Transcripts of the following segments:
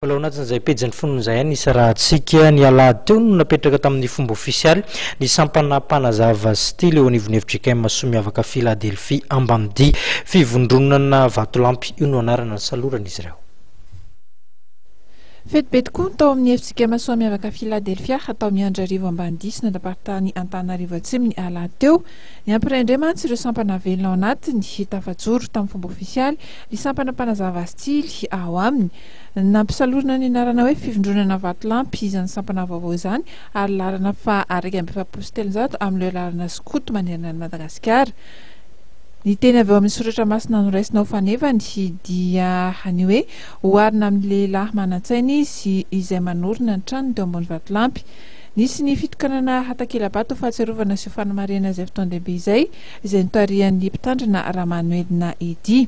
Mbola ao anatin'izay pejin'ny fononin'izay ihany ny isarahantsika. Ny alahady teo no napetraka tamin'ny fomba ofisialy ny sampana mpanazava style eo anivon'ny fjkm soa miavaka Philadelphie Ambanidia. Fivondronana Vatolampy io no anarana nisaloran'izy ireo. Fety be tokoa ny tao amin'ny fjkm soa miavaka Philadelphia tao Miandrarivo Ambanidia sy ny andaparitany Antananarivo Atsimo ny alahady teo. Niampy rendre mantsy ireo sampana velona ao anatiny. Tafajoro tamin'ny fomba ofisialy ny sampana mpanazava style ao aminy. Nampisalorina ny anarana hoe Fivondronana Vatolampy izany sampana vaovao izany ary laharana faha iraika amby efapolo sy telonjato amin'ireo laharana skoto manerana an'i Madagasikara. Ny teny avy ao amin'ny soratra masina noraisina ho fanevany dia ny hoe Oharina amin'ny lehilahy manan-tsaina izy izay manorina ny tranony teo ambony vatolampy. Nisy ny fitokanana hatakela-bato ho fahatsiarovana sy ho fanamarihana izay fotoan-dehibe izay, izay notarihan'ny Mpitandrina Ramanoelina Eddy.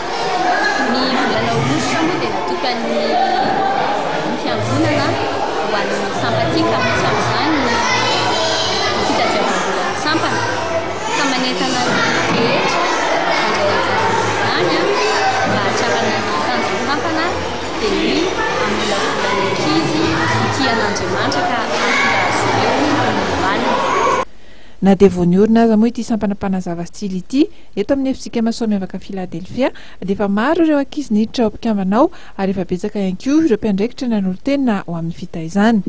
Ny volana aogositra moa dia natokan'ny fiangonana ho an'ny sampatsika, misy amin'izany ny fitadiavam-bolan'ny sampana ka manentana ny rehetra handray anjara amin'izany mba hahatrarana ny tanjon'ny sampana dia ny hamolavola ny ankizy hitia an'Andriamanitra ka hahatonga azy ireo ho olombelona. Na dia vao niorina aza moa ity sampana mpanazava tsily ity, Eto amin'ny Efintsika Masoa Miavaka Filadelfia, dia efa maro ireo ankizy niditra ho mpikambana ao, ary efa betsaka ihany koa ireo mpiandraikitra nanolo-tena ho amin'ny fitaizana.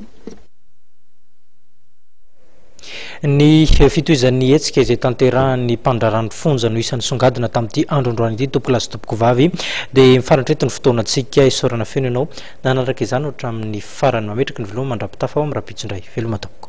Ny fitohizan'ny hetsika izay tanterahan'ny mpandraharahan'ny fonja no isan'ny songadina tamin'ity andro androany ity tompolahy sy tompokovavy dia mifaritra eto ny fotoanantsika isaorana feno ianao nanaraka izany hatramin'ny farany mametraka ny veloma mandrapitafa ao amin'ny rahampitso indray veloma tompoko